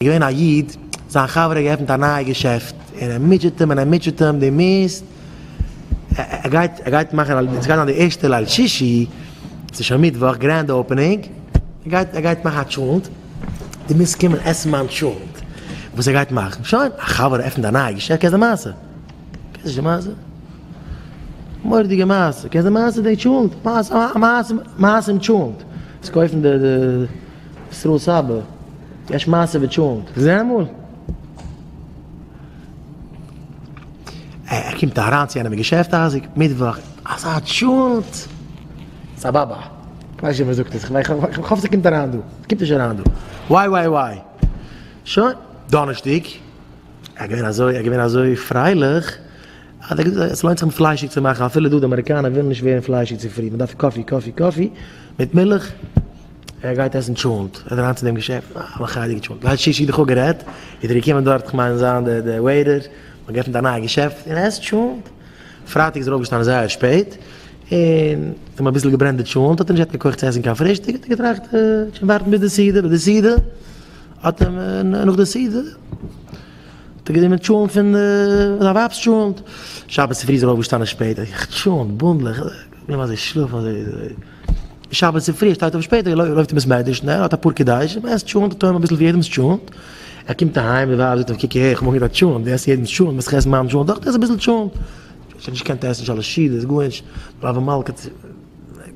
איז געווען א איד, זיין חבר האט געעפנט א נייע געשעפט, און ער מוטשעט אים און ער מוטשעט אים, דו מוזט, ער גייט, ער גייט מאכן, עס גייט זיין די ערשטע ליל שישי, עס איז שוין מיטוואך, גרענד אופענינג, ער גייט, ער גייט מאכן א טשולענט, דו מוזט קומען עסן מיין טשולענט, וואס ער גייט מאכן, שוין, א חבר עפנט א נייע געשעפט, קענסט די מעשה? קענסט נישט די מעשה? מורא'דיגע מעשה, קענסט די מעשה די טשולענט? מעשה, א מעשה, מעשה מיט טשולענט, וואס קויפן די, די. ישראל סבא, יש מעשה בטשולנט. זע אמאל. ער קומט אריין צו איינעם אין געשעפט אייזיק, מיטוואך, אזא טשולנט! סבאבא, איך ווייס נישט ווער זאגט עס, איך האף ס'קומט אריין דא, ס'קומט נישט אריין דא, וויי וויי וויי. שוין, דאנערשטאג, ער איז געווען אזוי, ער איז געווען אזוי פרייליך. האט ער געזאגט עס לוינט זיך נישט פליישיג צו מאכן אפילו דא די אמעריקאנער ווילן נישט ווערן פליישיג צו פרי מען דארף קאפי קאפי קאפי מיט מילך ער גייט עסן טשולנט ער איז אריין צו דעם געשעפט אה א מחיידיגע טשולנט לייט שישי איז דאך אפ גערעדט איז ער געקומען דארט כ'מיין זיין די די וועיטער מ'האט געעפנט א נייע געשעפט און ער עסט טשולנט פרייטאג איז ער אויפגעשטאנען זייער שפעט און האט אים אביסל געברענט די טשולנט האט ער נישט געהאט קיין כח צו עסן קיין פרישטאג האט ער געטראכט כ'וועל ווארטן ביז די סעודה ביי די סעודה האט אים נאך די סעודה האט ער גענומען טשולענט פון זיין ווייב'ס טשולענט, שבת צופרי זענען מיר אויפגעשטאנען שפעט, איך זיך טשולענט, בונדל, איך בין אזוי שלאף אזוי אזוי, שבת צופרי ער שטייט אויף שפעט, ער לויפט אין בית מדרש שנעל, ער האט אפאר קדשים, ער עסט טשולענט אטאמען אביסל פון יעדעמ'ס טשולענט, ער קומט אהיים, די ווייב זאגט אים, קוק אהער, איך מאך גראד טשולענט, דו עסט יעדעמ'ס טשולענט, וועסט דאך עסן מיין טשולענט אויך, עס אביסל טשולענט, איך האב נישט געקענט עסן שלש ש, דאס איז גארנישט, בלאבע מלכה.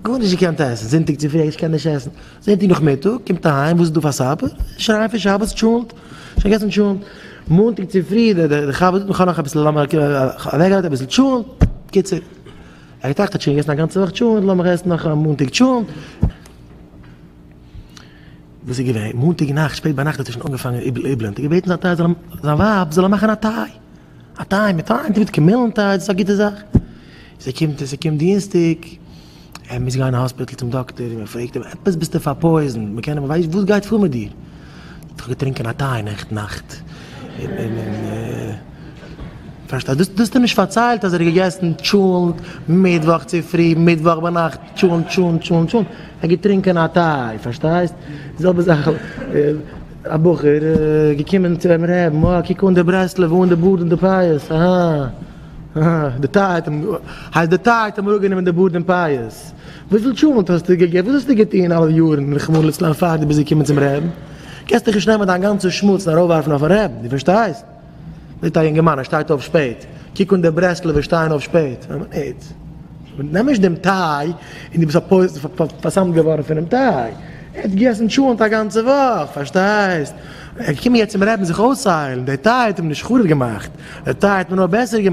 גארנישט געקענט עסן, זונטאג צופרי איך קען נישט עסן, זונטאג נאכמיטאג קומט אהיים וואס איז דא פאר סאפער, שרייען פון שבת טשולענט, שוין געגעסן טשולענט, מאנטאג צופרי דער חבר זאגט מ'כאן נאך אביסל לאמיר אוועקגרייטן אביסל טשולענט, בקיצור ער געטראכט כ'האב שוין געגעסן א גאנצע וואך טשולענט לאמיך עסן נאך מאנטאג טשולענט, וואס איז געווען, מאנטאג נאכט שפעט ביינאכט האט ער שוין אנגעפאנגען איבלען, האט ער געבעטן זיין טיי זאל אים, זיין ווייב זאל אים מאכן א טיי. א טיי מיט א היינט מיט קעמילן טיי דאס איז א גוטע זאך. זי קומט און ס'קומט דינסטאג, ער מוז גיין אין האספיטל צום דאקטער און מען פרעגט אים עפעס ביסטו פארפויזן, מען קען ווייסט וואס גייט פאר מיט דיר? איך האב געטרינקען א טיי נעכטן נאכט און פארשטייט דאס האסטו נישט פארציילט אז ער האט געגעסן טשולנט מיטוואך צופרי מיטוואך ביינאכט טשולנט טשולנט טשולנט טשולנט ער האט געטרינקען א טיי פארשטייסט די זעלבע זאך. א בחור געקומען צו אים רעבן, אה קוק אן די ברסלב אן די בארד און די פאות, אהא אהא די טיי האט אים, הייסט די טיי האט אים אפגענומען די בארד און פאות, וויפיל טשולענט האסטו געגעבן, וואס האסטו געטון אלע יארן רחמנא לצלן פאר די ביסט געקומען צום רעבן, קענסט דיך נישט נעמען דיין גאנצע שמוץ און ארויפווארפן אויפן רעבן, די פארשטייסט? זעט א יונגערמאן ער שטייט אויף שפעט, קוק אן די ברסלב'ער שטייען אויף שפעט, ווען מען איז, נעם נישט דעם טיי און דו ביסט פארפוילט פאר'סמ'ט געווארן פונעם טיי, ער האט געגעסן טשולענט א גאנצע וואך, פארשטייסט, ער איז געקומען יעצט צום רבי'ן זיך אויסהיילן, דער טיי האט אים נישט חרוב געמאכט, דער טיי האט אים נאר בעסער געמאכט.